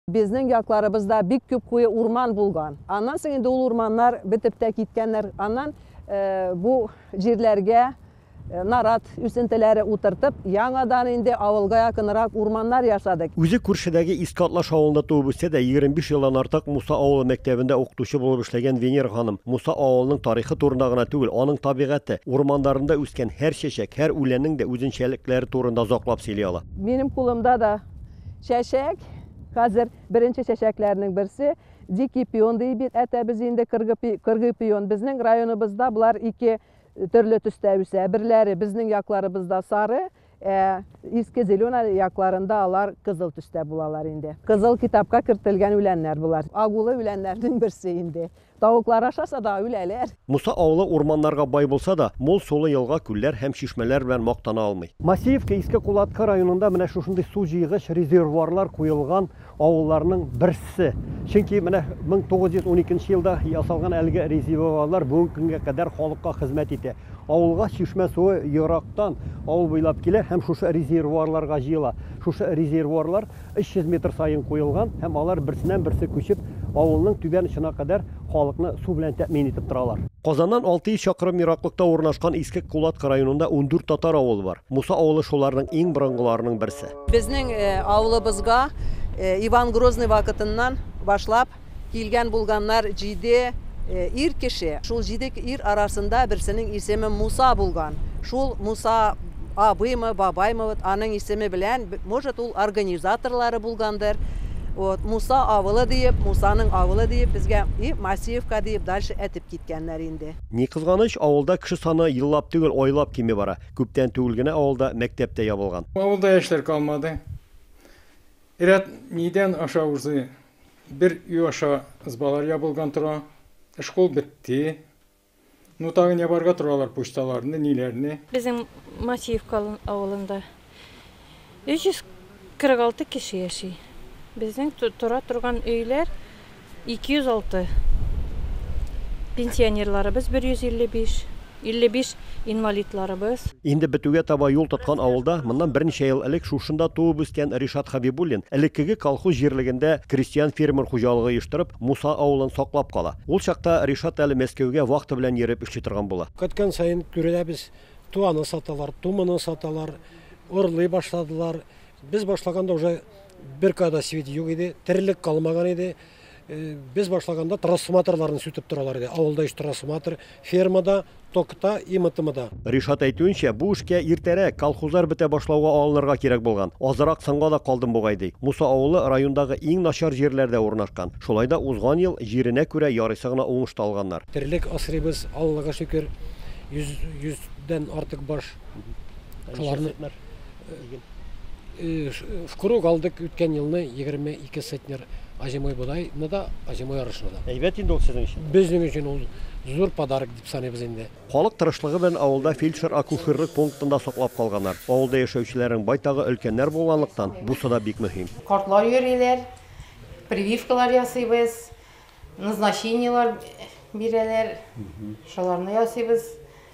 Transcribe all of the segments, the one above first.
Безнең якларыбызда бик күп куе урман булган. Аннан соң инде ул урманнар бетеп тә киткәннәр. Аннан э, бу җирләргә э, нарат үсентеләре утыртып, яңадан инде авылга якынрак урманнар ясадык. Үзе күршедәге Иске Атлаш авылында туып үсә дә, 25 елдан артык Муса авылы мәктәбендә укытучы булып эшләгән Венера ханым, Муса авылының тарихы турында гына түгел, аның табигате, урманнарында үскән һәр чәчәк, һәр үләннең дә үзенчәлекләре турында озаклап сөйли ала. Минем кулымда да Чәчәк, хәзер беренче чәчәкләрнең берсе, дикий пион ди бит әтәбез инде, кыргый пион. Безнең районыбызда болар ике төрле төстә үсә. Берләре безнең якларыбызда сары, ә иске зелена якларында алар кызыл төстә булалар инде. Кызыл китапка кертелгән үләннәр болар. Агулы үләннәрнең берсе инде. Тавыклар ашаса да, үләләр. Муса авылы урманнарга бай булса да, мул сулы елга, күлләр һәм чишмәләр белән мактана алмый. Массеевка, Иске Кулаткы районында менә шушындый су җыйгыч резервуарлар куелган авылларның берсе. Чөнки менә 1912 елда ясалган әлеге резервуарлар бүгенге көнгә кадәр халыкка хезмәт итә. Авылга чишмә суы ерактан, авыл буйлап килә һәм шушы резервуарларга җыела. Шушы резервуарлар 300 метр саен куелган һәм алар берсеннән-берсе күчеп, авылның түбән очына кадәр халыкны су белән тәэмин итеп торалар. Казаннан 600 чакрым ераклыкта урнашкан Иске Кулатка районында ундүрт татар авылы бар. Муса авылы шуларның иң борынгыларының берсе. Безнең авылыбызга Иван Грозный вакытыннан башлап Килгән-булганнар җиде ир кеше. Шул җиде ир арасында берсенең исеме Муса булган. Шул Муса абыймы, бабаймы, вот аның исеме белән, может, ул организаторлары булгандыр. Вот, Муса авылы диеп, Мусаның авылы диеп безгә и Масеевка диеп дальше әтеп киткәннәр инде. Ни кызганыч, авылда кеше саны еллап түгел, айлап кими бара. Күптән түгел генә авылда мәктәп тә ябылган. Авылда яшьләр калмады. Ряд нидән аша узы Бер өй аша ызбалар ябылган тора. Школ бетте. Ну тагын ябарга торалар почталарны, ниләрне. Безнең Матиевка авылында 346 кеше яши. Безнең тора торган өйләр 206. Пенсионерларыбыз 155. 55 инвалидларыбыз. Инде бетүгә таба юл тоткан авылда моннан берничә ел элек шушында туып-үскән Ришат Хәбибуллин элеккеге колхоз җирлегендә крестьян-фермер хуҗалыгы оештырып, Муса авылын саклап кала. Ул чакта Ришат әле Мәскәүгә вахта белән йөреп эшли торган була. Көткән саен күрәбез, ту аны саталар, ту моны саталар, урлый башладылар. Без башлаганда уже бер кадасвет юк иде, терлек калмаган иде. Без башлаганда трансформаторларны сүтеп торалар иде. Авылда өч трансформатор, фермада, токта и МТМда. Ришат әйтүенчә, бу эшкә иртәрәк, колхозлар бетә башлауга алынырга кирәк булган. Азрак соңга да калдым бугай, ди. Муса авылы райондагы иң начар җирләрдә урнашкан. Шулай да узган ел җиренә күрә ярыйсы гына уңыш та алганнар. Терлек асрыйбыз, Аллага шөкер, 100 дән артык баш. Шуларны. Э, в круг алдык үткән елны 22 центнер озимой бодайны да, озимой арышны да. Әйбәт инде ул сезнең өчен. Безнең өчен ул зур подарок дип саныйбыз инде. Халык тырышлыгы белән авылда фельдшер-акушерлык пунктында саклап калганнар. Авылда яшәүчеләрнең байтагы өлкәннәр булганлыктан, бусы да бик мөһим. Картлар йөриләр, прививкалар ясыйбыз, назначениелар бирәләр. Шуларны ясыйбыз.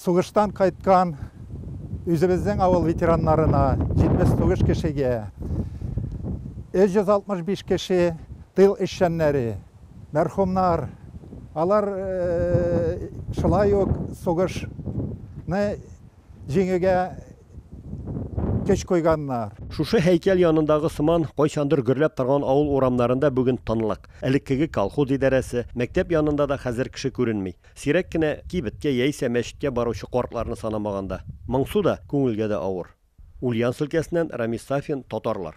Сугыштан кайткан үзебезнең авыл ветераннарына, 79 кешегә, 365 кеше тыл эшчәннәре, мәрхүмнар, алар шулай ук сугышны җиңүгә көч куйганнар. Шушы һәйкәл янындагы сыман, кайчандыр гөрләп торган авыл урамнарында бүген тынлык. Элеккеге колхоз идарәсе, мәктәп янында да хәзер кеше күренми. Сирәк кенә кибеткә яисә мәчеткә баручы картларны санамаганда. Моңсу да, күңелгә дә авыр. Ульяновск өлкәсеннән Рамис Сафин, татарлар.